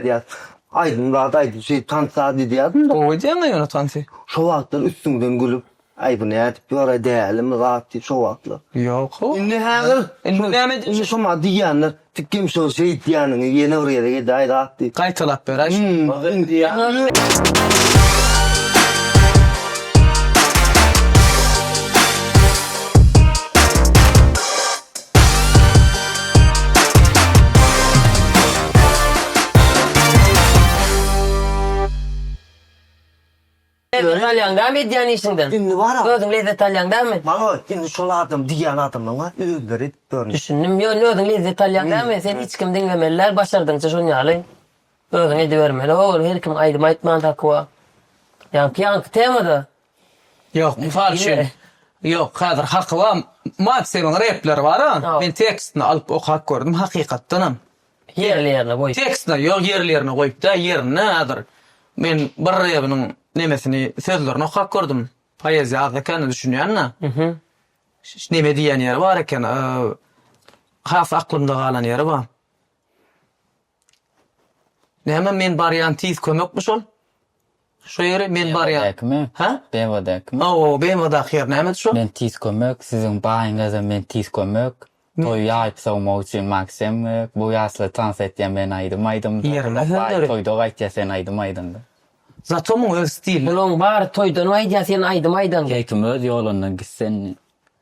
Edýas, Aýdym zat aýdyp şeýdip tans zat edýädim-de. Gowy edýäň-ä ýöne tansy. Şo wagtlar üstüňden gülüp, Aý bu nädip ýöraý dälimi zat diýip şo wagtlar. Ýok-ow. Indi häzir. Indi näme edýäň? Indi şoma diýýänler, Tikem şo şeýtýäniňi ýene bir gezek edäý zat diýip. Gaýtalap beräý şony. Özüňi alýaň dämi edýän işiňden? Indi bar-a. Özüň lezzet alýaň dämi? Maňa indi şol adam diýýän adamlaryň-a özleri edip dur. Düşündim. Ýöne özüň lezzet alýaň dämi? Seni hiç kim diňlemeli däl, başardygyňça şonuň ýaly özüň edibermeli. Ol her kim aýdym aýtman takyba. Ýaňky ýaňky temada Ýok, mysal üçin, ýok, häzir haky bar, Maksimiň repleri bar-a, men tekstini alyp okap gördüm, hakykatdanam, ýerli-ýerine goýup, tekstini, ýok, ýerli-ýerine goýup däl, ýerine häzir men bir rebiniň nemesini, sözlerini okap gördüm, poeziýa az ekeni, düşünýän-de, neme diýýän ýeri bar eken, has aklymda galan ýeri bar. Näme men barýan tiz kömekmi şol? Şo ýeri men barýan. Bemodakimi? Hä? Bemodakimi? Hawa, BMWdaky ýer nämedi şo? Men tiz kömek, siziň baýyňyza men tiz kömek. Toýy ýaýyp sowmak üçin Maksem gerek. Bu ýaşly tans etýä men aýdym aýdymda. Ýerine sen döre. Toýda gaýtýa sen aýdym aýdanda. Zato muň öz stili. Munuň bary toýdan gaýdýa sen aýdym aýdanda. Keýkim öz ýolundan gitsin.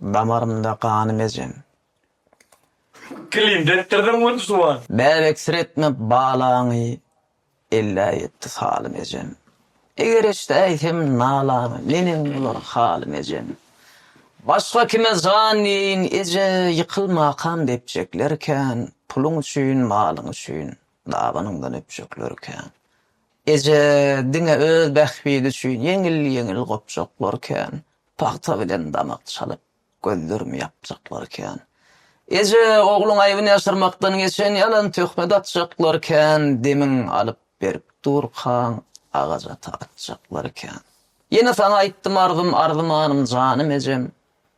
Damarymda ganym ejem. Kilimde etdirdim gün suwan. Bäh eksiretme balaňy. Ellä ýetdi salym ejem. Eger eşdäýsem nalaňy. Menem bolar halym ejem. Başga kime jan diýeýin eje. Ýykyl makam depjekler kän. Puluň üçin, malyň üçin. Dabanyňdan öpjekler kän. Eje, diňe öz bähbidi üçin. Ýeňil-ýeňil gopjaklar kän. Pagta bilen damak çalyp, gözlerimi ýapjaklar kän. Eje, ogluň aýbyny ýaşyrmakdan geçen ýalan töhmet atjaklar kän, demin alyp berip durkaň agajata atjaklar kän. Ýene saňa aýtdym arzym, arzymanym, janym ejem,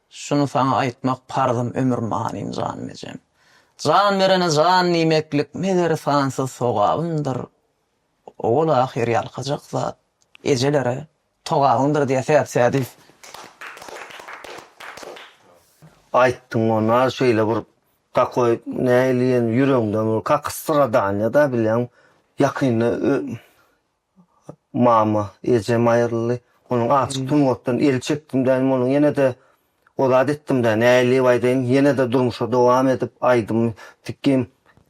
Şuny saňa aýtmak parzym, ömür manym, janym ejem. Jan berene jan diýmeklik, meger, sansyz sogabymdyr. Owal-ahyr ýalkajak zat, ejelere Togabyňdyr diýe säd sädi. Aýtdyň ona şeýle bir takoý näleýin ýüregiňden bir kaky stradanýa da bilýäň ýakynda mama ejem aýryldy onuň açyk sungatdan el çekdim däýdim onuň ýene de O zat etdimdä nädip aýdaýyn ýenede durmuşa dowam edip aýdym sikim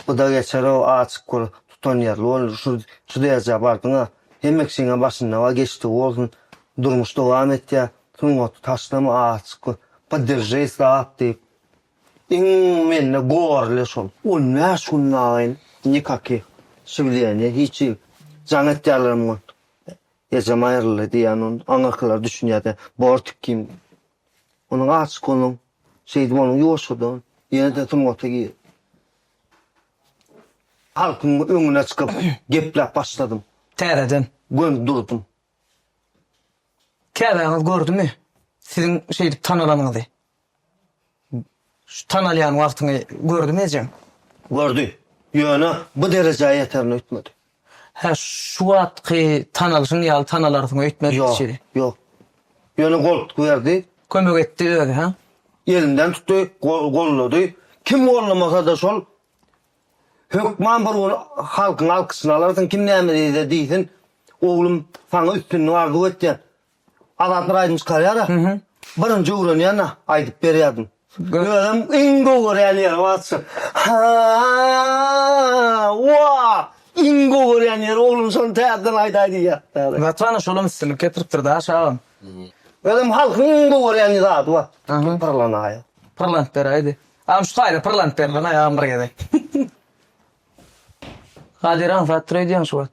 bda geçerow açyk kör tutanýerli bol şu şu derjä bardyňa hemme kişiňe başynda bar geçdigi bolsun durmuş dowam etýä sungaty taşlama açyk kör podderže sap diýip iň mende gorle şol. On bäş günde agyn nikaki şiwleýän hiç jaň etýärlerem Ejem aýryldy diýýän ol. Aňyrkylar düşünýärdi. Bortik kim? Onuň açyk onuň. Şeýdip onuň ýoşudy. Ýene-de sungata gir. Halkyň öňüne çykyp gepläp başladym. Täzeden. Gönüp durdum. Käbäňiz gördümi siziň şeýdip tanalanyňyzy? Şu tanalýan wagtyňy gördümi ejeň? Gördi. Ýöne bu derejä ýeterin öýtmedi. Hä, şu wagtky tanalyşyň ýaly tanalarsyň öýtmedi diýşi. Ýok, ýok. Ýöne goltgy berdi. Kömek etdi özi, hä? Elinden tutdy, gollady. Kim gollamasa-da şol, hökman bir gün halkyň alkyşyny alarsyň, kim näme diýse diýsin, oglum, saňa üstünlik arzuw etýän. Azat bir aýdym çykarýar-a. Birinji öwrenýän-ä aýdyp berýärdim. Özem iň gowy görýän ýerim atşyk. Ha! Wa! Iň gowy görýän ýerim oglum şony täzeden aýdaý diýýär. Watana şolam üstünlik getiripdir daş agam. Özem halkyň iň gowy görýän zady bar. Pyrlanaýa. Pyrlanyp beräýdi. Agam şu taýda pyrlanyp berlanaý agam bir gezek. Kadir aňsat dur öýdýäň şu wagt.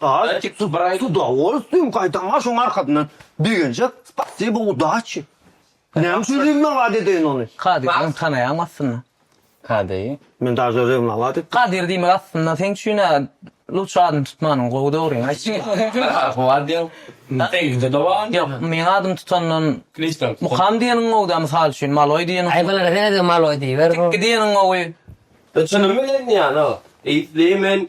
Gaýy tik dur baraýda da ol üstün gaýtam bar şoň arkasyndan begenjek spasibo udaçi. Näme üçin rewnalat edeýin ony. Kadyr ony tanaýaňmy aslynda. Kadyry. Men daže rewnalat etdim. Kadyr diýmek aslynda seň üçin a luçşy adyny tutmanyň gowy dogryňy aýtsaň. Howa diýeň. Seňkide de bar. Ýok meň adymy tutandan mukam diýeniň gowy da mysal üçin maloý diýeniň. Aý bulara senede maloý diýiber. Tikki diýeniň gowy. Çynym bilen ýan o. Isleýmen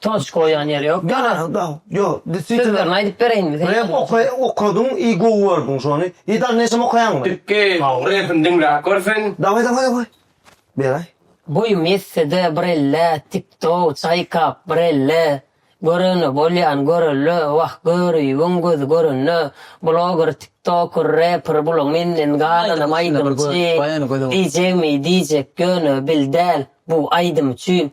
Toç goýan ýeri ýok. Ýanar da. Ýok, deswitine. Sözlerini aýdyp bereýinmi sen? Rep oka, okadyň i gowy gördüň şony. I dal neşem okaýaňmy? Türki repini diňläp gör sen. Daway daway daway. Beraý. Boýum ýetsede bir elle tiktok çaýkap bir elle görene bolýan görelle wah görübiň gözi görende bloger tiktoker reper bula menden galanam aýdymçy diýjegmi diýjek ýöne bil däl bu aýdym üçin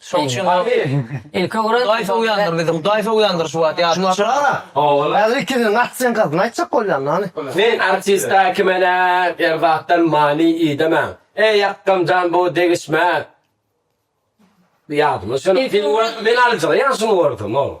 Şoň üçin ilki görä Hudaý sowýandyr bizi. Hudaý sowýandyr şu wagt ýadyňa düşürme. Ogul. Häzir ikiniň atyjyň gazyny aýtjak bolýan hany. Men artista kimene erzakdan many idemen. Eý akgam jan bu degişme. Ýadyma düşen. Men alyjyga ýaşyny gördüm ogul.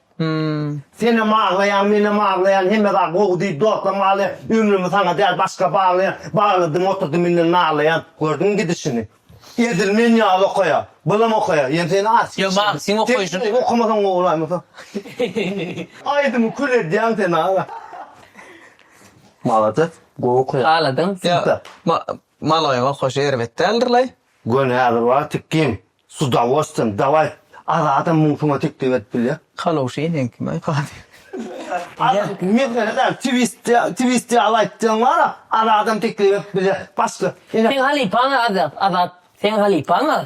Senem aglaýaň menem aglaýan hemme zat gowy diýip dostlaryň aglaýan ömrümi saňa däl başga baglaýan bagladym oturdym indi naglaýan gördüňmi gidişini edil men ýaly okaýa bylam okaýa ýöne sen aç Ýöne maňa seň okaýşyň Sen okamasaň gowy bolaýmasa Aýdymy kül edýäň sen aga Malades gowy okaýaň Agladyň Ýa ma maloýyň okaýşy erbet däldirlaý. Göni häzir bar tikgin S udawostyýem, dawaý, Azadam muň suňa teklip edip bilýär. Kalowşyny sen kim aý Kadyr? Azat, mesele däl, twist, twist ýaly aýtdygyň bar-a, Azadam teklip edip bilýär. Başga, ine. Seň halypaň Azat, Azat, seň halypaň a.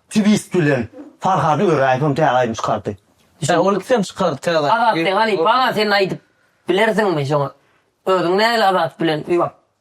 Twist bilen Farhady Öräýewem täze aýdym çykardy. Hä, ol ikisem çykardy täze aýdym. Azat, seň halypaň a, sen aýdyp bilersiňmi şoňa? Özüň nähili Azat bilen ýok.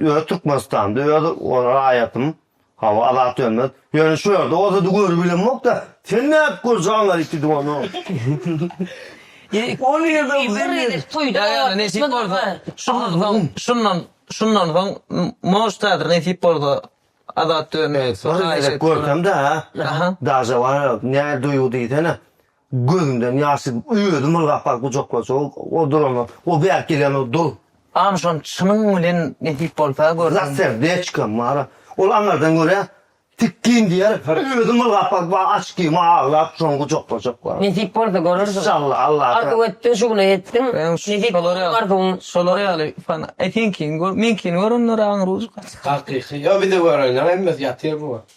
Öz Türkmenistanymda öz raýatym hawa Azat Dönmez ýöne şu ýerde bolsady görüp bilemokda sen nädip görjäň aýtdy ony. On ýylda biziz. Ýa ýa nesip bolsa şundan soň şundan şundan soň moždadyr nesip bolsa Azat Dönmez. Görsemdä daže bar nädip duýgy diýsene. Gözümden ýaş syzyp, özüm ylgap baryp gujaklaşa o durana. O bärik gelýän o dur. Hany şony çynyň bilen nesip bolsa görseň. Za serdechkom mara. Ol aňyrdan görä tikgin diýer, özüm ylgap baryp wa açkima aglap şony gujaklaşak bar. Nesip bolsa görersiň. Inşallah Allah. Arzuw etdiň şuny etdiň. Nesip bolsa arzuwyň. Şolar ýaly fan e seňkini gör meňkini gör onda aňry uçar. Hakyky. Ýa bizi görenler hemmesi ýatyr bu wagt.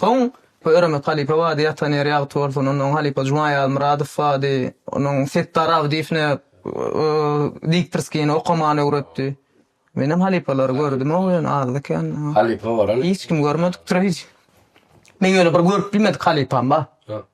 Soň Pöýremez halypa bady ýatan ýeri ýagty bolsun, onnoň halypa Juma Ýazmyradow bady, onuň Setdar Abdyýew ne diktorskini okamany öwretdi. Menem halypalary gördümog ýöne azda kände. Halypa bolan. Hiç kimi görmedik türeýji. Meň ýöne bir görüp bilmedik halypam bar.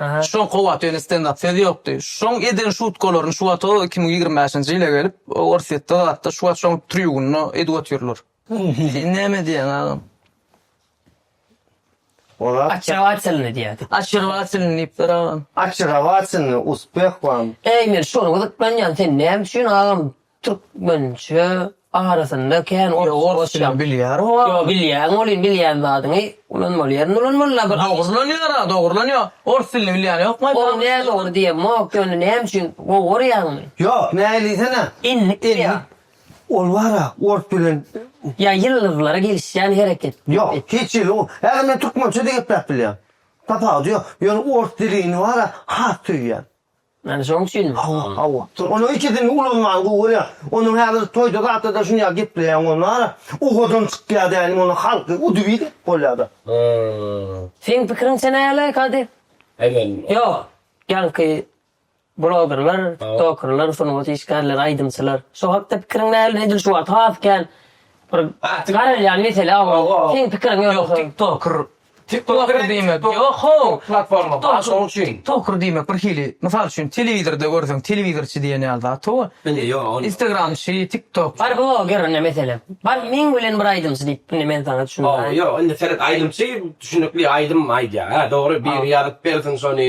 Şoň kowat öýüne stendap söz ýokdy. Şoň eden şutkalaryny şu wata iki müň ýigrimi bäşinji ýyla gelip Orsýetde zatda şu wata şoň trýugunda edip otyrlar. Sen näme diýýäň agam? Ozat. Açewatsylny diýýärdi. Açewatsylny diýipdir agam. Açewatsylny uspeh wam. Eý men şony gyzyklanýan sen näme üçin agam Türkmençe arasynda kän ors Ýok, ors dilini bilýär o. Ýok, bilýän welin bilýän zadyňy ulanmaly ýerinde ulanmaly la bir. Dogry ulanýar-a, dogry ulanýar. Ors dilini bilýän ýokmy aýt bakalym? Ol nädogry diýemok, ýöne näme üçin gowy görýäňmi? Ýok, näme diýsene? Endik diýýä. Ol bar-a, ors bilen. Ýa ýyldyzlara gelişýän hereket. Ýok, hiç ýyl ol. Häzir men türkmençe-de gepläp bilýän. Tapawudy ýok. Ýöne ors dilini bar-a, has söýýän. Ýani şoň üçin hawa hawa. Onuň ikisini ulanman gowy bolýar. Onuň häzir toýda zatda-da şunýa gepleýäň ol nara. Uhodan çykýa dälim ony halky udybit edip bolýada. Seň pikiriňçe näle Kady? Aýman. Ýok. Ýaňky blogerler, tiktokerler, sungat işgärleri, aýdymçylar. Şo hakda pikiriň näl? Edil şu wagt has kän bir garalýan mesele o. Seň pikiriň ýöne. Ýok tiktoker Tiktoker diýmek ýok-how, platforma bar şonuň üçin. Toker diýmek bir hili, mysal üçin, telewizorda görseň, telewizorçy diýen ýaly zat ho. Indi ýok ony. Instagramçy, tiktokçy. Bar bloger indi meselem. Bar meň bilen bir aýdymçy diýip indi men saňa düşündiriň. Ho, ýok indi seret aýdymçy düşünikli aýdym aýdýar. Hä dogry biri ýazyp bersin şony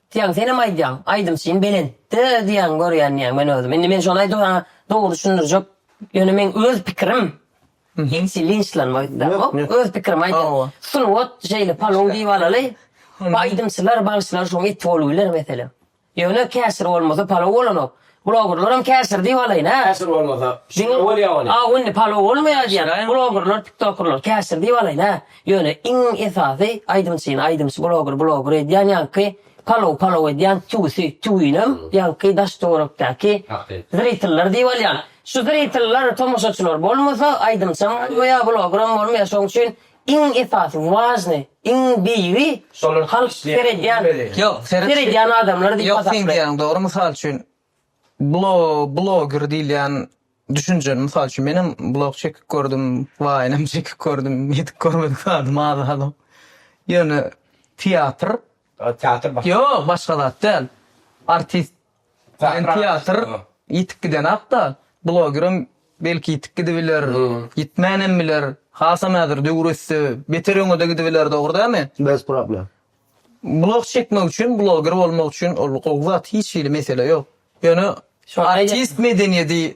Diýýäň, senem aýdýaň, aýdymçym belentde diýýäň, görýän diýýäň men özüm. Indi men şony aýdyp saňa dogry düşündirjek, ýöne meň öz pikirim, hiç linçlanma öýtmäň, öz pikirimi aýdýan. Sungat şeýle palaw diýip alaly, aýdymçylar, bagşylar şoň eti bolup biler meselem. Ýöne käşir bolmasa palaw bolanok. Bloggerlaram käşir diýip alaýyn hä. Käşir bolmasa şeýle bolýa ony. Diňe Aw indi palow bolmaýa diýýän bloggerlar tiktokerler käşir diýip alaýyn hä. Ýöne iň esasy aýdymçyny aýdymçy blogger blogger edýän ýaňky palow palow edýän tüwüsi tüwinem ýaňky daş töwerekdäki zritellar diýip alýan. Şu zritellar tomaşaçylar bolmasa aýdymçam bolmaýa bloggeram bolmaýa şoň üçin Iň esasy, важный, iň beýigi şolar halk seredýän, seredýän adamlar diýip hasaplaýar. Ýok, sen diýýäň dogry. Mysal üçin, bloger diýilýän düşünje, mysal üçin, menem blog çekip gördüm, waýnam çekip gördüm, ýetip görmedik zadym az-azam. Ýöne teatr, teatr başga zat däl. Artist Bilen teatr ýitip gidenakda, blogerem belki ýitip gidibiler, ýitmänem biler. Hasam häzir döwür össe, beter öňe-de gidibiler, dogry dälmi? Bez problem. Blog çekmek üçin, bloger bolmak üçin ol gowy zat, hiç hili mesele ýok. Ýöne artist medeniýedi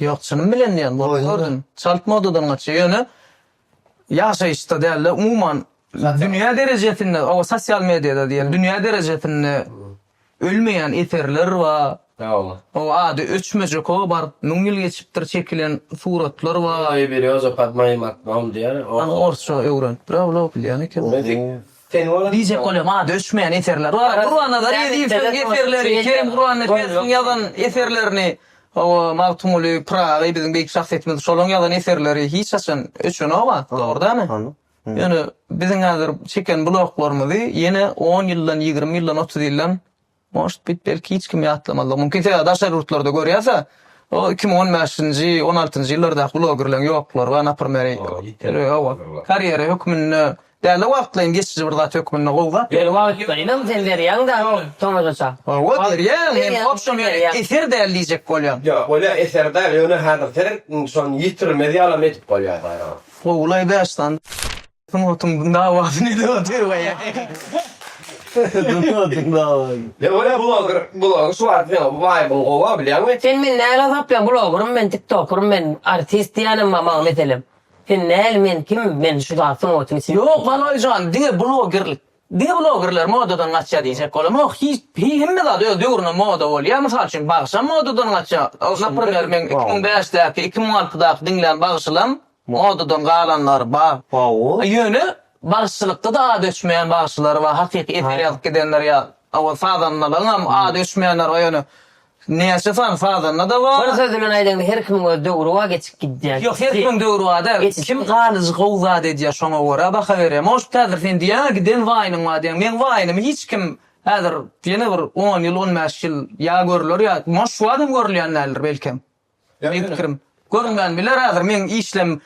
Ýok, çynym bilen diýýän, bolup gördüm. Çalt modadan gaçýar. Ýöne ýaşaýyşda däl-de, umuman dünýä derejesinde, o sosial mediýada diýeli, dünýä derejesinde ölmeýän eserler bar. O ady öçmejek o bar, müň ýyl geçipdir çekilen suratlar bar. Orsça öwrenipdir-ä bu, bilýän ekeni. Diýjek bolýar, maňa döşmeýän eserler bar. Gurbanazar Ezizowyň eserleri, Kerim Gurbannepesowyň ýazan eserlerini, hawa, Magtymguly Pyragy, biziň beýik şahsyýetimiz, şolaryň ýazan eserleri hiç haçan öçenok-a, dogry dämi? Ýöne biziň häzir çeken bulaklarymyzy ýene on ýyldan, ýigrimi ýyldan, otuz ýyldan Может bit belki hiç kim ýatlamazlygy mumkin sebäbi daşary ýurtlarda görýäsä o iki müň on bäşinji on altynjy ýyllardaky blogerleň ýoklary bar naprmer owa karýera hökmünde dälde wagtlaýyn geçiji bir zat hökmünde gowy zat ýöne wagtlaýynam sen berýäň da tomaşaça owa berýän men obşem eser däl diýjek bolýan ýok bolýa eser däl ýöne häzir sen şony ýitirmez ýalam edip bolýa gowy laý bäş sany. Sungatyň dawasyny edip otyr we Sungatyň dawasyny. Ýa welä bloger blogy şu wagt ýa waýbyň gowa bilýäňmi. Sen meni näl azaplan blogerym men tiktokerym men artist diýänem bar maňa meselem sen näl men kim men şu zat sungatyň içinde. Ýok Galaýjan diňe blogerlik diňe blogerler modadan gaçýa diýjek bolamok hiç hemme zat öz döwründe moda bolýa mysal üçin bagşam modadan gaçýa naprmer meň iki müň bäşdäki iki müň altydaky diňlän bagşylam Modadan galanlary bar. Ýöne bagşylykda-da ady öçmeýän bagşylar bar, hakyky eser ýazyp gidenler ýaly. Ol sazandalaryňam ady öçmeýänleri bar, ýöne näçe sany sazanda-da bar. Bir söz bilen aýdaňda, her kimiň öz döwri bar, geçip gidýär. Ýok, her kimiň döwri bar däl. Kim galyjy gowy zat edýär, şoňa görä baha berýär. Может, häzir sen diýýäň-ä, giden waýnyň bar diýýäň. Meň waýnymy hiç kim häzir ýene bir on ýyl, on bäş ýyl ýa görler ýa, moş, şu wagtam görülýän däldir belkem. Meniň pikirim, görünmän biler häzir meň işlem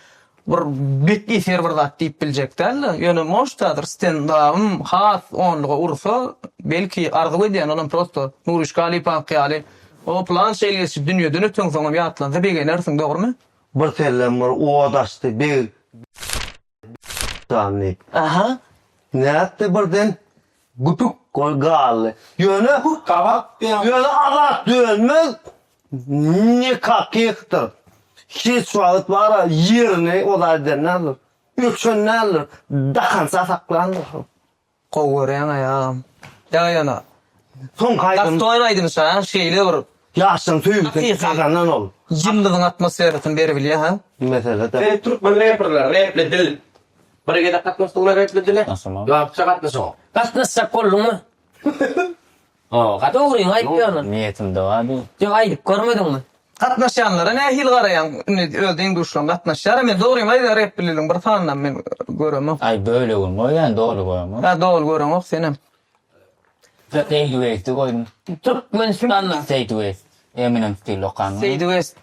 bir bet eser bir zat diýip biljek däldi. Ýöne moşt häzir stendabym has onluga ursa, belki arzuw edýän olam prosto Nuryş Galypowyňky ýaly o pylança il geçip dünýeden öteňsoňam ýatlansa begenersiň dogrymy? Bir sellem bir oda açdy beg. Sandy. Aha, nätdi birden güpük bolup galdy. Ýöne gabak diýen. Ýöne Azat Dönmez nikakihdir. Hiç wagt bara ýerini oda eden däldir. Öçen däldir. Dakança saklandyr. Gowy görýäňaý agam. Ýa ýöne. Soňky aýdym. Aktual aýdym şa şeýle bir. Ýaşlaň söýgüsini gazanan ol. Ýyllygyň atmosferasyny beribilýä ha. Mesele de. Sen türkmen reperler repli dil. Bir gezek gatnaşdyňmy repli dile? Gatnaşamok. Lapça gatnaşaňok. Gatnaşjak bolduňmy? Howa dogryňy aýtýanyň. Niýetimde bar bu. Ýok aýdyp görmediňmi? Gatnaşýanlara nähili garaýaň indi öz deň-duşlaň gatnaşýara men dogryňy aýdaýan repbililiň bir sanynam men göremok. Aý bölegini goý ýa doly göremok. Ýa doly göreňok senem. Seýdi West i goýuň. Türkmenistanda. Seýdi West. Eminem stil okanmy? Seýdi West.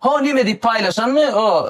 Ho nime diýip paýlaşanmy o.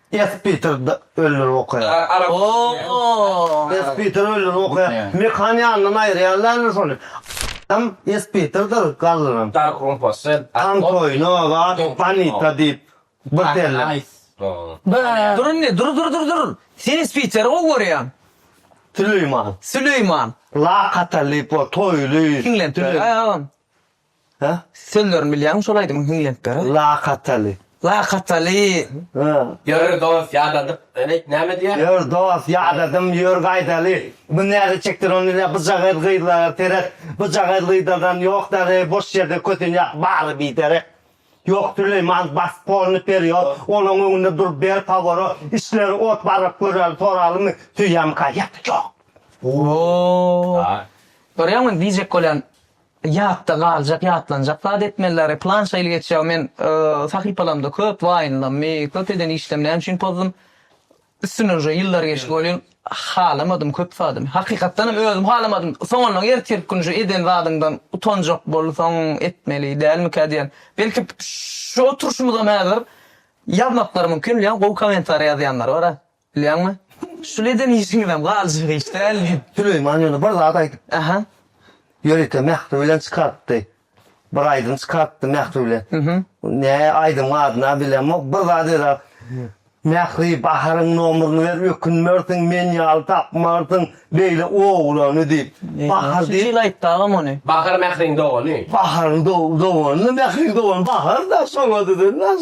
S. Peter öldürip okaýar. S. Peter öldürip okaýar. Mekan ýanyndan aýyrýarlarmy şony? Adam S. Peterdir galdyran. Antoýno we Anita diýip bir derler. Durun-le, dur, dur, dur, dur! Sen S. Peteri gowy görýäň. Süleýman. Süleýman. Lakatal diýip bor, toýly. Siňlen. Hä? Sözlerini bilýäňmi şol aýdymyň hiňlenpere? Lakataly. Lakataly. Hä. Ýör dost ýadadyp. Ýöne aýt näme diýýär? Ýör dost ýadadym ýör gaýdaly. Bu näze çekdir ony ile bujagaz gyzlara seret. Bujagaz gyzlardan ýok däri boş ýerde kösenýär bary biderek. Ýok Süleýman bas polny perýod olaň öňünde dur ber pawora işleri ot baryp göräli soralymy süýemka ýa-da ýok. Ooo. Görýäňmi indi diýjek bolýan. Ýatda galjak ýatlanjak zat etmelidary plan şeýle geçýär men sahypalamda köp waýynlanmy köp eden işlem näme üçin pozdum üstünden uje ýyllar geçdi welin halamadym köp zadym hakykatdanam özüm halamadym soňundan ertir gün şu eden zadyňdan utanjak bolsaň etmeli dälmikä diýen belki şu oturşymyzam häzir ýazmaklary mümkin ýa gowy kommentariýa ýazýanlar bara Bilýäňmi? Şuly eden işiňizem galjak iş däl diýip. Süleýman ýöne bir zat aýdypdy. Aha. Ýörite Mähri bilen çykarypdy. Bir aýdym çykarypdy Mähri bilen. Nä aýdymyň adyny-a bilemok. Bir zat eda, Mähri, Baharyň nomerini ber, ökünmersiň, men ýaly tapmarsyň beýle oglany diýip. Bahar diýip. Şunça ýyl aýtdy agam ony. Bahar Mähriň dogany. Baharyň dogany, Mähriň dogany Bahar-da, şoňa düzülmez.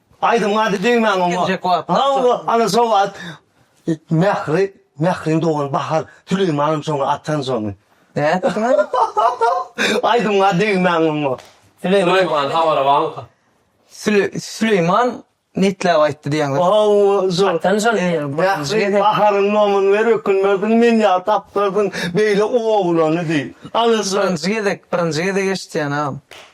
Aýdymyň ady Döýmäň oňa. Hawa, ana şoňa at. Mähri, Mähriň dogany Bahar Süleýmanow şoňa atan şony. Aýdymyň ady Döýmäň oňa. Süleýman habary barmyka? Süleýman netläp aýtdy diýýäňiz. Hawa, şo. Atan şony. Mähri, Baharyň nomyny ber, ökünmezdiň, men ýaly tapdardyň beýle oglany diýip. Ana şo. Birinji gezek, birinji gezek eşitýän-ä.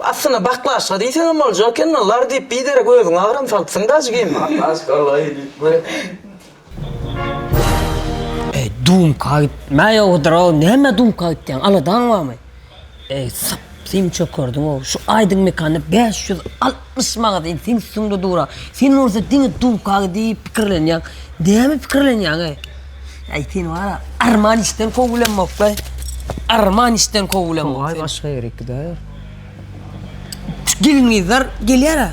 Aslynda baklaşka diýseňem bolja ekeni, lar diýip biderek özüňi agram salypsyň daş kim. Baklaşka laý diýip. Eý dumka gitme ýogudyrow näme dumka gitýäň aladaň barmy eý syp syn çökerdiňow şu aýdyň mekanda bäş ýüz al. Pyşmagat in seň üstüňde dura. Sen bolsa diňe dulkagy diýip pikirlenýäň. Näme pikirlenýäňe? Äý seni wara arman işden kow bilenmokdaý. Arman işden kow bilenmok. Togaý başga ýere gider. Şu gelin gyzlar gelýärä.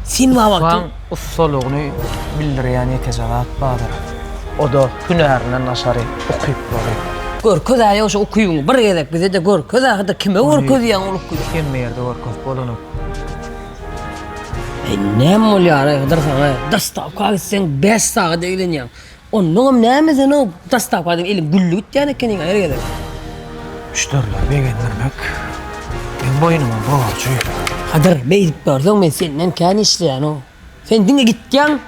Sen wagty. Ussalygyny bildirýän ýeke zat bardyr. Oda hünärinden daşary ukyplary. Görkezä ýa şu ukybyňy bir gezek bize-de görkezä hada kime görkezýäň ol ukyby. Hemme ýerde görkezip bolanok. Näme bolýar aý Hydyr saňa? Dostawka gitseň 5 sagat eglenýäň. Onnoň hem näme sen o dostawka diýip eliň gülli gitýän ekeniň aý her gezek. Müşderileri begendirmek meň boýnuma borjy. Hydyr, beýdip dursaň men senden kän işleýän-ow. Sen diňe gitýäň,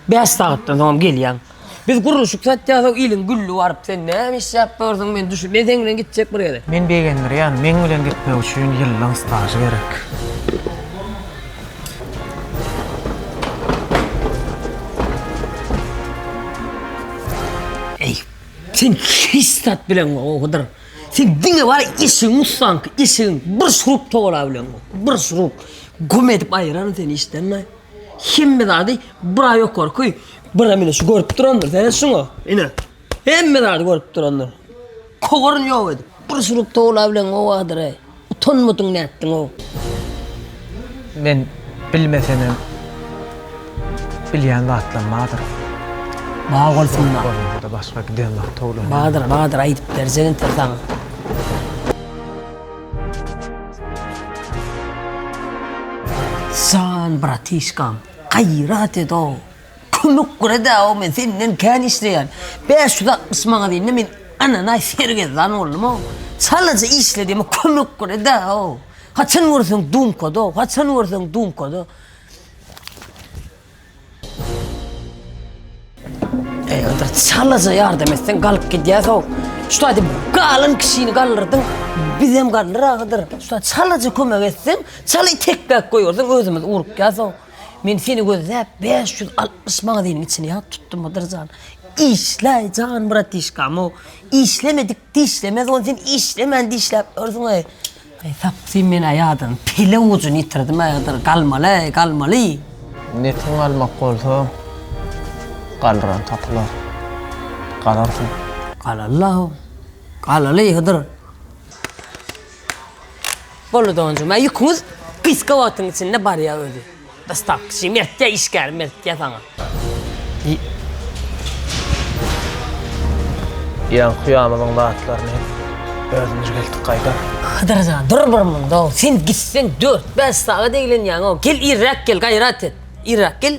5 sagatdan soň hem gelýäň. Biz gurluşyk satýasow iliň gülli baryp sen näme işläp dursuň men düşün men seň bilen gitjek bir ýere. Men begendirýän meň bilen gitmek üçin ýyllaň stažy gerek. Sen hiç zat bileňok o Hydyr. Sen diňe bar işiň ussanky işiň bir şurup towala bileňok. Bir şurup güm edip aýyraryn seni işden. Hemme zady bura ýokarky, bura mine şu görüp durandyr, seret şuňa. Ine. Hemme zady görüp durandyr. Kowaryny ýok edip. Bir surup towla bilen gowadyr. Utanmadyň nätdiň o. Men bilmesemem bilýän zatlam bardyr. Bar bolsun-da. Bolmasa-da başga giden wagt towlanýan. Bardyr, bardyr aýdyp berjegin sen saňa. Jan bratişkam, gaýrat ed-ow! Kömek gürede-ow, men senden kän işleýän. Bäş ýüz altmyş manat indi men ananaý sergezdan boldum-ow. Çalaja işle diýme, kömek gürede-ow! Haçan görseň dumkada-ow, haçan görseň dumkada. Eýerdir çalaja ýardam etseň galyp gidýär sow. Şuda diýip galyn kişini galdyrdyň. Bizem galdyr agydyr. Şuda çalaja kömek etseň, çaly tekbäk goýberseň özümiz urukýar sow. Men seni gözläp 560 manadynyň içini ýat tutdum Hydyr jan. Işläý jan bratişkam-ow. Işlemedik dişlemez ony sen işlemän dişläp ýörsüň-eý. Eý tapsyn men aýadam pele ujyny ýitirdim aýadyr galmaly galmaly. Netiň galmak bolsa galran tapylar. Galarsyň. Galarlaw. Galaly Hydyr. Bolly donjum a ýüküňiz gysga wagtyň içinde barýa özi. Dostavkaçy mertde işgär mertde saňa. Ýan kuýamyzyň zatlaryny özümiz geldik gaýdar. Hydyr jan dur bir munda o sen gitseň dört bäş sagat eglenýäňow gel irräk gel gaýrat et irräk gel.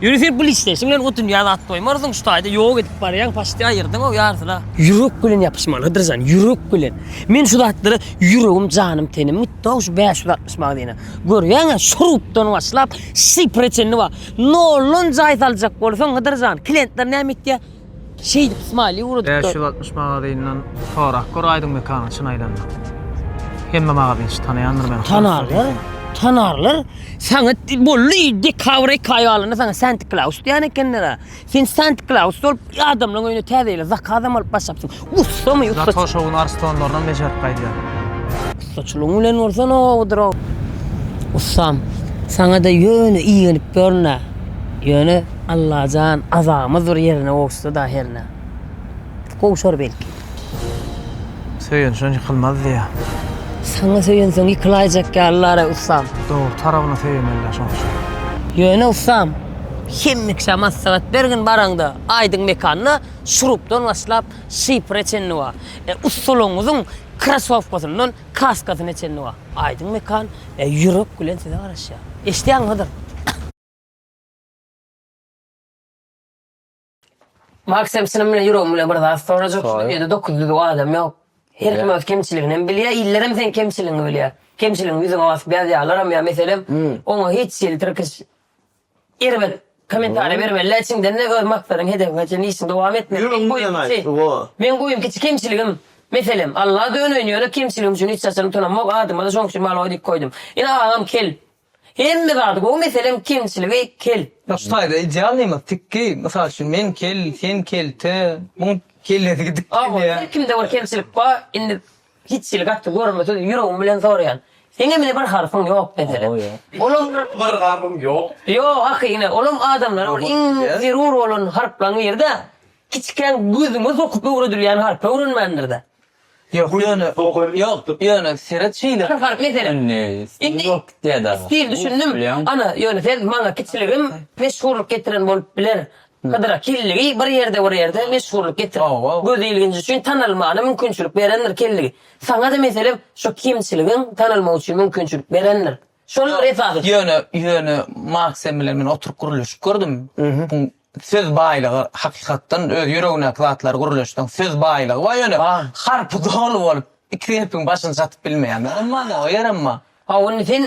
Ýöne sen pul isleýşiň bilen o dünýä zat goýmarsyň, şu taýda ýok edip barýaň, paşşt aýyrdyň-ow ýarysyna. Ýürek bilen ýapyşmaly Hydyrjan, ýürek bilen. Men şu zatlara ýüregim, janym, tenim gitdi-ow şu bäş ýüz altmyş magazine. Görýäň-ä, şu rubdan başlap, şifre çenli bar. Nolldan jaý saljak bolsaň, Hydyrjan, klentler näme etýär? Şeýdip smile ugradypdyr. Bäş ýüz altmyş magazyndan sorap gör aýdyň mekanyň çyn aýlanda. Hemme magazynçy tanaýandyr meni. Tanarlar, tanarlar. Saňa bolly dekabr eki aý galanda saňa Santi Klaus diýen ekenler-ä. Sen Santi Klaus bolup adamlaryň öýüne täze ýyla zakazam alyp başlapsyň. Ussamy ussa. Zat hoşowyny arstonlarynam bejerip gaýdýar. Ussaçylygyň bilen bolsa nobadyr o. Ussam, saňa-da ýöne igenip ýörün-ä. Ýöne, Allajan, azabymyz bir ýerine gowuşsa-da hernä. Gowşar belki. Söýenşen ýykylmaz diýýär. Saňa söýensoň ýykylaýjak ýalylar-a, ussam. Dogry tarabyna söýemeli-dä şoň üçin. Ýöne, ussam, hemmeşä maslahat bergin baraňda, aýdyň mekanda. Şurupdan başlap, şifre çenli bar. E, ussalygyňyzyň krasowkasyndan kaskasyna çenli bar. Aýdyň Mekan, e, ýürek bilen size garaşýar. Eşidýäňiz Hydyr? Maksym, çynym bilen ýüregim bilen bir zat sorajak. Şu dünýede dokuz düzüw adam ýok. Her kim öz kemçiligini hem bilýär, iller hem seň kemçiligiňi bilýär. Kemçiligiňi ýüzüňe basyp ýazýarlaram ýa meselem, oňa hiç hili tirkiş Erbet komentariýa bermeli-dä içiňden-de öz maksadyň hedebiň üçin işiňi dowam etmeli. Ýok meň guýyň kiçi. Meň guýyň kiçi kemçiligim meselem Alla döneýin ýöne kemçiligim üçin hiç haçan utanamok adyma-da şoň üçin Maloý diýip goýdum. Ine agam kel. Hemme zady gowy meselem kemçiligi kel. Ýok şu taýda idealnymyz tikgi mysal üçin men kel sen kelte muň kellesi gidipdir ýa. Agam her kimde bir kemçilik bar indi Hiç hili gaty görmesiz ýüregim bilen soraýan. Seňemine bir harpyň ýok meselen? Olam bir harpym ýok. Ýok ahy ine olam adamlara bir iň zerur bolan harplaň biride kiçikäň gözüňe sokup öwredilýän harpy öwrenmändirde. Ýok ýöne ýok ýöne seret şeýle. Bir harp meselen. Indi ýok diýädä. Stil düşündim. Ana ýöne sen maňa kiçiligim meşhurlyk getiren bolup biler. Hydyra Kelligi bir ýerde bir ýerde meşhurlyk getirip, göz ilginji üçin tanalmagyna mümkinçilik berendir Kelligi. Saňa-da meselem şo kemçiligiň tanalmagy üçin mümkinçilik berendir. Şoldur esasy. Ýöne, ýöne Maksym bilen men oturyp gürleşip gördüm. Buň söz baýlygy hakykatdan öz ýüregindäki zatlary gürleşseň söz baýlygy bar ýöne harpy doly bolup iki gepiň başyny çatyp bilmeýän. Emma o ýerem bar. Hawa indi sen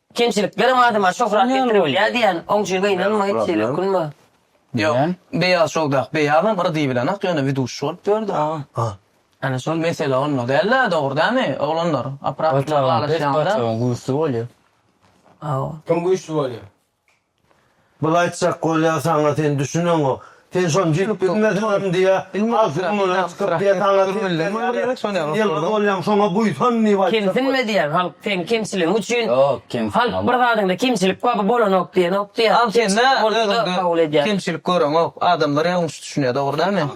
Kemçiliklerem adama şöhrat getiribilýär diýýän oňjy gynanma hiç hili ökünme. Ýok beýaz şowdak beýazam yrdy bilenak ýöne widuşi bolup ýördi aga. Ana şol mesele onda dälda dogry dämi oglanlar oprasyn alaşýanda. Pes paçagyň güýçli bolýa. Hawa. Kim güýçli bolýa? Bul aýtjak bolýa saňa sen düşüneňok. Sen şony diýip bilmesiňem diýä. Agzyň mundan çykyp diýä saňa sen ýylgyz bolýaň şoňa buýsan diýip aýtjak. Kemsinme diýýän halk seň kemçiligiň üçin. Ýok kemsinme. Halk bir zadyňda kemçilik bar bu bolanok diýenok diýýä. Kemçilik görüňok adamlar ýalňyş düşünýä dogry dälmi?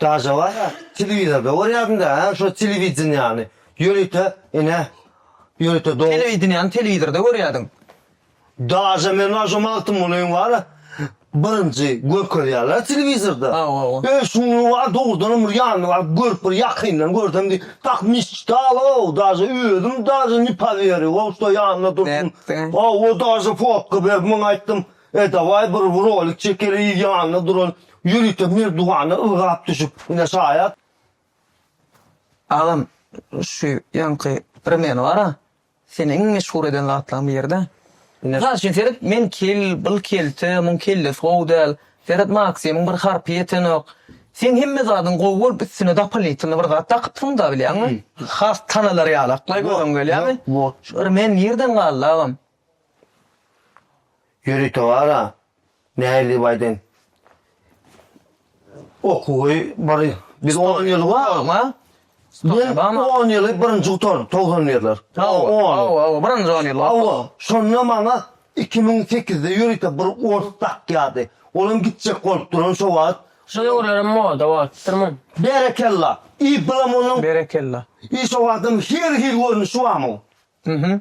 Daşa barha telewizorda görýärsiňdä hä şo telewideniýany. Ýörite ine ýörite do. Telewideniýany telewizorda görýärdiň. Daşa men bar şo Magtymgulyň bar birinji görkezýärler telewizorda. Öý şunlugy bar dogrudanam bir ýanyny baryp görüp bir ýakyndan görsem diýip tak mişçitalow daşa özüm daşa ne poweryu wow şo ýanynda dursun. Nätdiň? Hawa daşa fotka berip muňa aýtdym. E dawaý bir rolik çekeliý ýanynda duran ýörite merdwana ylgap düşüp ine şaýat. Agam şu ýaňky rmen bara seni iň meşhur eden zatlaň birida. Mysal üçin seret men kel bil kelte muň kellesi gowy däl seret maksimiň bir harpy ýetenok seň hemme zadyň gowy bolup üstüne dopolitnly bir zat dakypsyňda bilýäňmi has tanalar ýaly aklaý göreň gelýämi şu rmen nirden galdy agam. Ýöri towara nähili baýdan okuwy bir biz 10 ýyl barma? Ben 10 ýyly birinji gutardy 90 ýerler. Hawa, birinji 10 ýyl. Hawa, şonda maňa 2008-de ýörite bir ors dakýardy. Olam gitjek bolup duran şo wagt. Şo döwürlerem moda bolupdyrmy? Berekella. I bilam onuň. Berekella. I şo wagtam her hil görnüşi barmy? Hü-hü.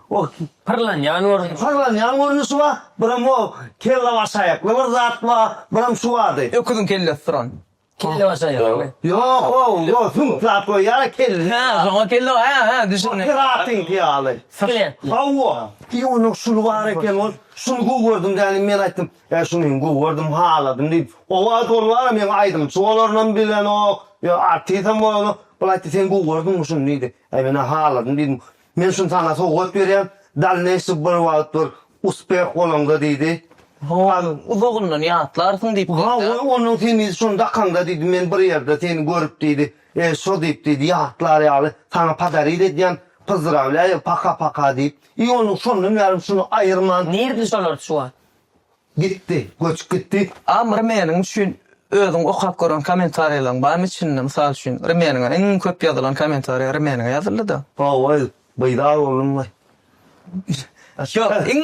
O pyrlanýan görnüşi. Pyrlanýan görnüşi bar, biram o kellabaşaýakly bir zat bar, biram şu bardy. Öküziň kellesi turan. Kellabaşaýakly. Ýok, o, o süňk zat goýýar-a kelle. Hä, şoňa kelle, hä-hä, düşündim. Piratiňki ýaly. Skelet. Hawa. I onuň şuly bar eken, ol, şuny gowy gördüm dänim, men aýtdym, Ýa şuny hem gowy gördüm, haladym diýip. O wagt ol bar-a, meň aýdymçy bolanynam bilenok, ýa artisem bolanok. Ol aýtdy, Sen gowy gördüňmi şuny? diýdi. Äý menä haladym diýdim. Men şuny saňa sowgat berýän, dalneýşi bir wagt bir uspeh bolaňda diýdi. Has uzagyndan ýatlarsyň diýip geldi. Ha, goý, onuň seni şony dakaňda diýdi, men bir ýerde seni görüp diýdi, e, şo diýip diýdi, ýatlar ýaly saňa podarit edýän, pyzdrawlýaýa, paka-paka diýip. I onuň şondan bärim şuny aýyrman. Nirde şolar şu wagt? Gitdi, göçüp gitdi. Am Rimeniň üçin özüň okap gören kommentariýalaryň barmy içinde? Mysal üçin, Rimeniňe iň köp ýazylan kommentariýa Rimeniňe ýazyldy-da. Hawa, beýdar boldum we. Ýok, iň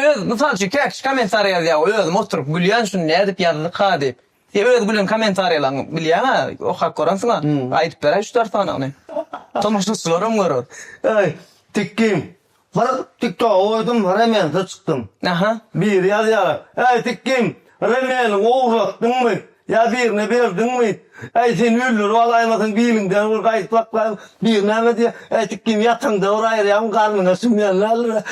öz, mysal üçin, käkişi kommentariýa ýazýar, özüm oturyp gülýän şuny nädip ýazdyka diýip. Sen öz gülen komentariýalaňy bilýäňä okap görensiňä aýdyp beräý üç dört sanyny. Tomaşaçylaram görer. Eý Tikgim bir tiktoga goýdum remensiz çykdym. Aha. Biri ýazýar Eý Tikgim remeniňi ogurlatdyňmy ýa birine berdiňmi eý seni öldürip alaýmasyn biliňden bir gaýdyp saklaýyn biri näme diýýär Eý Tikgim ýataňda bir aýyrýaryn garnyňa siňýän däldir.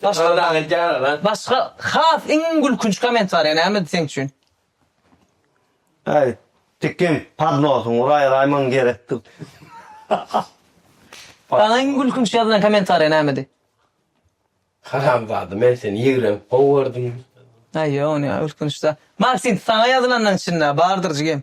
Başga dagy edýäler da. Başga has iň gülkünç komentariýa nämedi seň üçin? Äý, tikin podnosyň uraý Raýmon gerekdir. Saňa iň gülkünç ýazylan komentariýa nämedi? Haramzada men seni ýigrenip gowy gördüm. Aý ýok ony ýa gülkünç däl. Maksim saňa ýazylanlaň içinde bardyr jigim.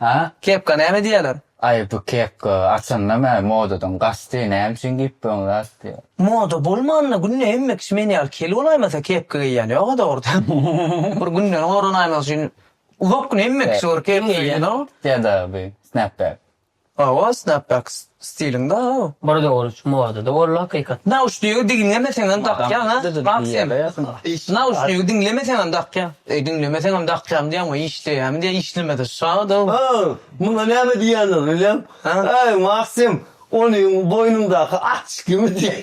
Hä? Kepka näme diýýäler? Aý, bu kepka, açyndam-ä, modadan gaçdy, näme üçin geýip bolmaz diýýär. Moda bolmanda günde hemme kişi men ýaly kel bolaýmasa kepka geýýän ýog-a dogrudan. Bir günden goranaýmak üçin uzak gün hemme kişi bir kepka geýýän. Ýa-da bu snapback. Hawa, snapbacks. Stiliň bar a. Bir dogruç modada boldy hakykat. Nauşnigi diňlemeseňem dakýaň a Maksym. Nauşnigi diňlemeseňem dakýaň. Eý diňlemeseňem dakýaň diýäňmi işleýämi diýä işlemese şadyr. Aw muňa näme diýýändir bilýäň. Aý Maksym onyň boýnuňdaky açkimi diýäý.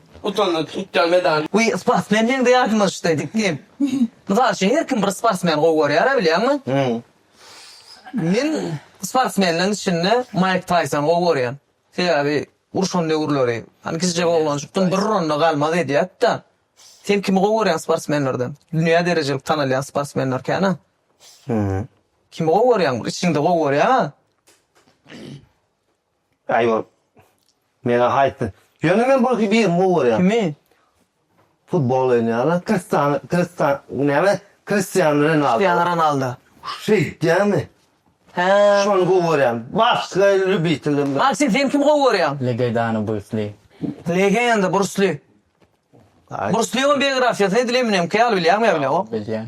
Utandy tutýan medaly. Wiý sportsmen meňde ýadymyzçdy diknim. Mysal üçin her kim bir sportsmen gowy görýär bilýäňmi? Men sportsmenleriň içinde Maýk Taýsony gowy görýän. Sebäbi urşan döwürleri hany kiçijek oglanjykdym bir uranda galmaz edýärdi-de. Sen kimi gowy görýäň sportsmenlerden? Dünýä derejelik tanalýan sportsmenler kän-ä. Kimi gowy görýäň? Içiňde gowy görýäň-ä. Äý ýor. Meňä aýtdy. Ýöne men bir birini gowy görýän. Kimi? Futbol oýnaýanlar Kristan Kristan näme? Kristian Renaldo. Kristian Ronaldo. Şeýtýäňmi? Hä. Şony gowy görýän. Başga lýubitelim. Maksim sen kimi gowy görýäň? Legedany Brus Li. Legenda Brus Li. Brus Lionyň biografiýasyny edil Eminem Kay al bilýäňmi ýa bilýäňok? Bilýän.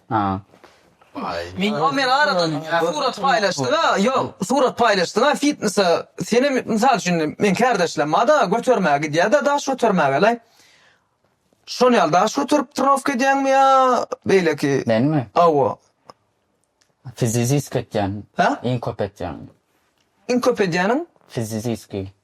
Meň Omer aradan surat paýlaşdyňa ýok surat paýlaşdyňa fitnesa senem mysal üçin meň kärdeşlem barda götermäge gidýärde daş götermägele şon ýaly daş göterip trenowka edýäňmi ýa beýleki Menmi? Hawa. Fiziziski etýän. Hä? Iň köp etýän. Iň köp edýäniň? Fiziziski.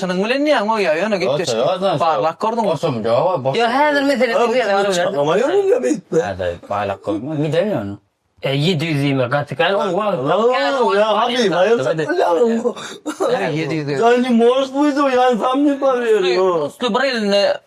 Şunuň bilen näme bolýar ýöne gepleşik barlap gördüňmi? Ýok häzir meselesi bu ýerde galyberdi.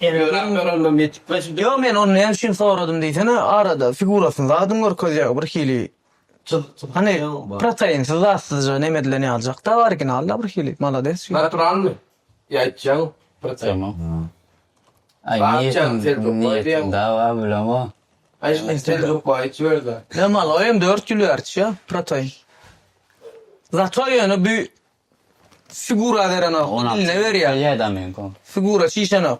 Telegram göremden ýetik. Ýok men ony näme üçin soradym diýsene arada figurasyny zadyn görkezýär bir hili hany protainsiz zatsyzja neme edilen ýalyjakda originalda bir hili malades şu. Naturalnyý ýa aýtjaň protein. Ýa maloýem dört ýül bäri içýär protein. Zato ýöne bu Figura berenok, iline berýär. Figura çişenok.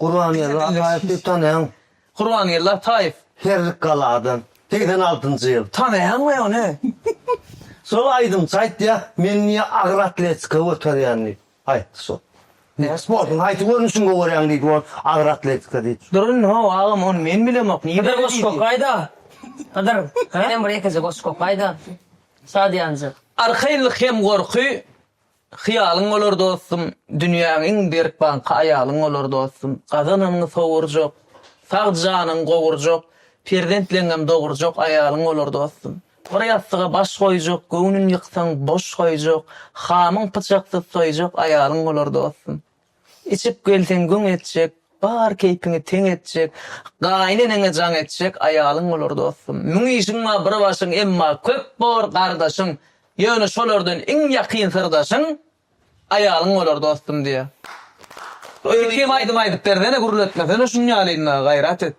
Gurbangeldi Ataýewi tanaýaň? Gurbangeldi Ataýew? Herrik galadan, segsen altynjy ýyl. Tanaýaňmy ony? Şol aýdymçy aýtýar, meni niýe agyr atletika göterýän diýip aýtdy şol. Sportuň haýsy görnüşini gowarýaň diýdi ol, agyr atletika diýdi. Dur indi how agam ony men bilemok. Hydyr goşgy okaýda. Hydyr, senem bir ýekeje goşgy okaýda. Şat ýanjy. Arkaýynlyk hem gorky hyýalyň bolar dostum, Dünýäň iň berk banky aýalyň bolar dostum, Gazananyňy sowurjak, sag janyňy gowurjak, Perzentleňňem dogurjak aýalyň bolar dostum, Bir ýassyga baş goýjak, göwnün ýyksaň boş goýjak, Hamyň pyçaksyz soýjak aýalyň bolar dostum. Içip gelseň güň etjek, bar keýpiňi teň etjek, gaýyn eneňe jaň etjek aýalyň bolar dostum. Müň işiň bar bir başyň, emma köp bor gardaşyň, ýöne şolardan iň ýakyn syrdaşyň aýalyň bolar dostum diýýär. Öýke hem aýdym aýdyp bersene gürletmesene şuny ýalynda gaýrat et.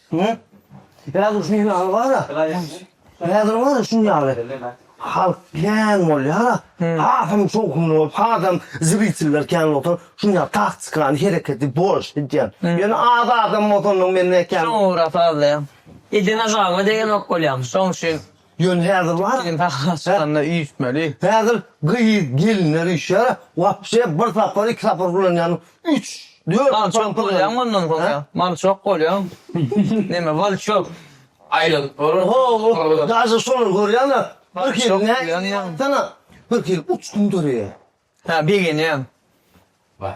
Häzir şu ýaly bar-a, häzir bar-a şu ýaly halk kän bolýar-a, hasam şowhunly bolup, hasam zritellar kän bolup oturyp, şuny ýaly taktikany, hereketi boş edýän. Ýöne az adam bolsa onda men nätjek? Şoňa görä sazlaýan. Edene zalňa degenok bolýarmyş, şoň üçin Ýöne häzir bar. Sen daşyna çykanda üýtmeli. Häzir gyz, gelinler üýşýär-ä. Wapşe bir sapar, iki sapar ulanýanyň üç, dört. Mal çok bolýaň ondan soň ýa. Mal çok bolýaň. Neme mal köp. Aýlyk bor. Ho-o, daşy şolar görýäň-ä. Bir hili näme, bir hili uçgun döreýär. Hä, begenýäň. Baý.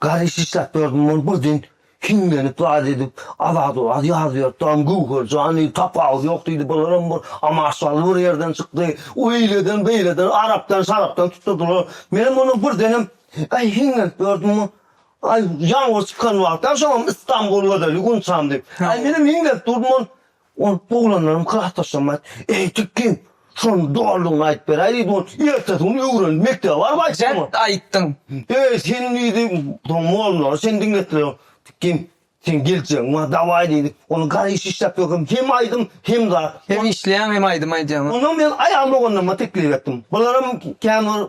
Garry şişläp gördüm ol birden hiňlenip zat edip Azady waz ýazyp ýörtdam Göwherjan diýdi tapawudy ýok diýdi bularam bir amaşaly bir ýerden çykdy öýleden beýleden arapdan şarapdan tutdurdylar menem onam birdenem aý hiňlenip gördüm aý ýaňyr çykan wagtam şoňam Istanbul gözeli Gunçam diýip aý menem hiňlenip durdum ol Ol oglanlaryň klasdaşlaryna aýt, Eý, Tikgin, şonuň doganlygyny aýdyp beräý diýdi, ol ertesi gün öwrenip mekdebe baryp aýtdy. Dert aýtdyň. Eý, sen diýdi, soň mollary sen diňletdiler. Tikgin, seň geljegiň bar, dawaý diýdi. Ony gara iş işläp ýörkäm hem aýdym, hem zat. Hem işleýäň, hem aýdym aýdýaň. Onsoň men aýal doganlaryma teklip etdim. Bularam kän bir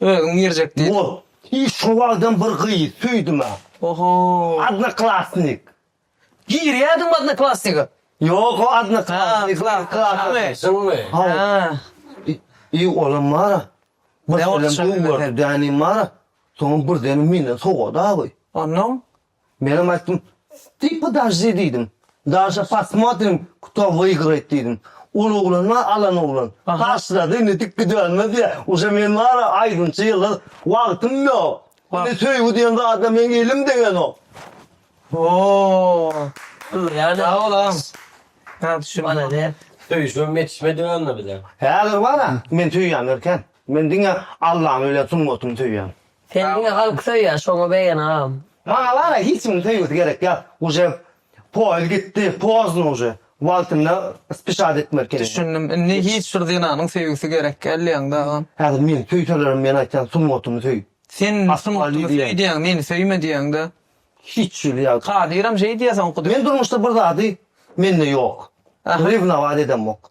Özüň girjek diýip. Bol. I şowaldan bir gyz söýdüm-ä. Oho. Odnoklassnik. Girýädiňmi odnoklassniga? Ýok o odnoklassnik. Klassnymy? Klassnymy? Hawa. I olam bar-a. Birdenem göwherli dänim bar-a. Soňam birdenem menden sowady awy. Onnoň? Menem aýtdym, Ty podojdi diýdim. Daže posmotrim kto wygrayt diýdim. Ol oglan bar alan oglan. Taşlady indi dik gidelmez diýä. Uje men bar-a aýdymçy ýyldyz. Wagtym ýok. Indi söýgi diýen zada meň elim degenok. Hoo. Sag bol agam. Sag düşün. Malades. Söýüşmem ýetişmedi ýalyda bize. Häzir bar-a men söýýän erken. Men diňe Allany bilen sungatyny söýýän. Sen diňe halky söýýä şoňa beýen agam. Maňa bara hiç kimiň söýgüsi gerek ýak uje poez gitdi pozno uje wagtynda spişat etmeli kene. Düşündim indi hiç bir zenanyň söýgüsi gerek gel diýäňdä agam. Häzir meni söýselerem men aýtýan sungatymy söý. Sen sungatymy söý diýýäň meni söýme diýýäňdä. Hiç hili ýa. Kadyram şeý diýýä soňky döwür. Men durmuşda bir zady mende ýok. Rewnować edemok.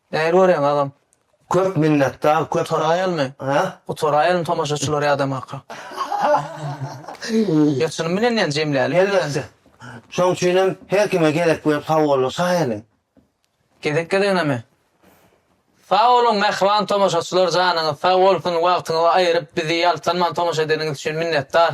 Nähili görýäň agam. Köp minnetdar köp Gutaraýalymy? Hä? Gutaraýalymy tomaşaçylary ýadamaga. Ýatyrym bilen ýa jemläli. Elbetde. Şoň üçinem her kime gezek berip sagbolun şaýyny. Gezek gezeginemi? Sag boluň mähriban tomaşaçylar janyňyz sag bolsun wagtyňyzy aýyryp bizi ýaltanman tomaşa edeniňiz üçin minnetdar.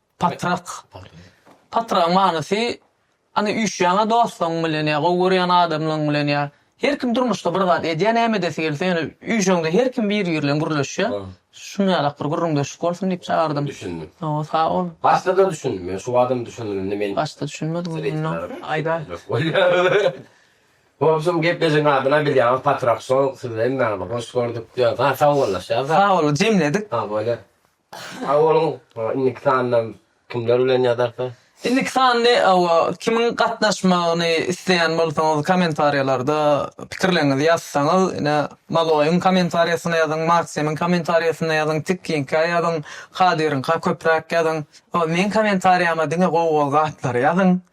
Patrak. Patragyň manysy, Hany üýşýäňä dostlaryň bilen ýa gowy görýän adamlaryň bilen ýa Her kim durmuşda bir zat edýär näme edesi gelse ýöne üýşeňde her kim biri biri bilen gürleşýär. Şuny ýalak bir gürrüňdeşlik bolsun diýip çagyrdym. Düşündim. Hawa sag bol. Başda-da düşündim men şu adam düşüneninde men. Başda düşünmediň onda aýdaý. Wobşem gepleşigiň adyna bilýäňiz Patrak Show sizi hemmäňizi hoş gördük diýýäs. Ha sagbollaşýas. Sag boluň jemledik. Ha bolýa. Sag boluň. Indiki sanda kimler bilen ýazarka? Indiki sandy hawa kimiň gatnaşmagyny isleýän bolsaňyz kommentariýalarda pikirleriňizi ýazsaňyz ine Maloýyň kommentariýasyna ýazyň Maksimiň kommentariýasyna ýazyň Tikkiňkä ýazyň Kadiriňka köpräk ýazyň hawa meň kommentariýama diňe gowy gowy zatlary ýazyň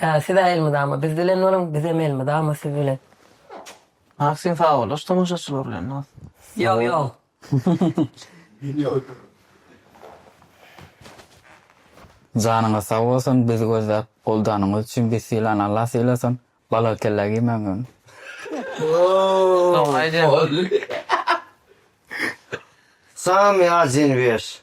Ää siz-ä elmydama biz bilen boluň, bizem elmydama siz bilen. Maksim sagbollaş tomaşaçylar bilen dos. Ýok ýok. Janyňyz sag bolsun bizi gözläp goldanyňyz üçin biz sylan Allah sylasyn bala kellä giýmäň öň. Salam Ýazin Weş.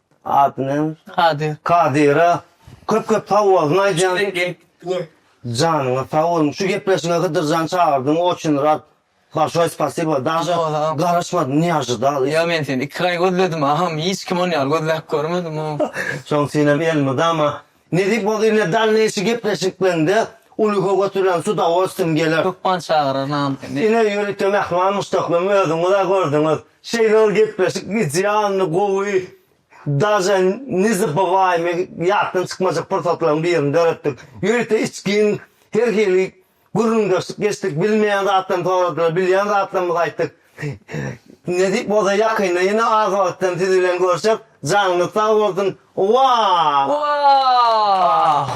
Ady näme? Kadyr. Kadyra köp köp sag bolsun aýdýan. Janyňyz sag bolsun. Şu gepleşige Hydyrjan çagyrdyň oçün rad. Balşoý spasibo. Daže garaşmadym niye ajydal. Ýa men seni iki aý gözledim agam hiç kim ony ýaly gözläp görmedim. Şoň üçinem elmydama Nesip olsa ine dalneýşi gepleşikleňde ulyga götüren su dowolstwin geler. Hökman çagyrar name seni. Ine ýörite mähman muşdaklym özüňiz-ä gördüňiz. Şeýle bir gepleşik idealny gowy daže nezabywaymy ýatdan çykmajak pursatlaryň birini döretdik. Ýörite içgin her hili Gürrüňdeşlik geçdik, bilmeýän zatlarymy soradylar, bilýän zatlarymyzy aýtdyk. Nesip bolsa ýakynda ýene az wagtdan siz bilen görşek. Janyňyz sag bolsun. Wah! Wah!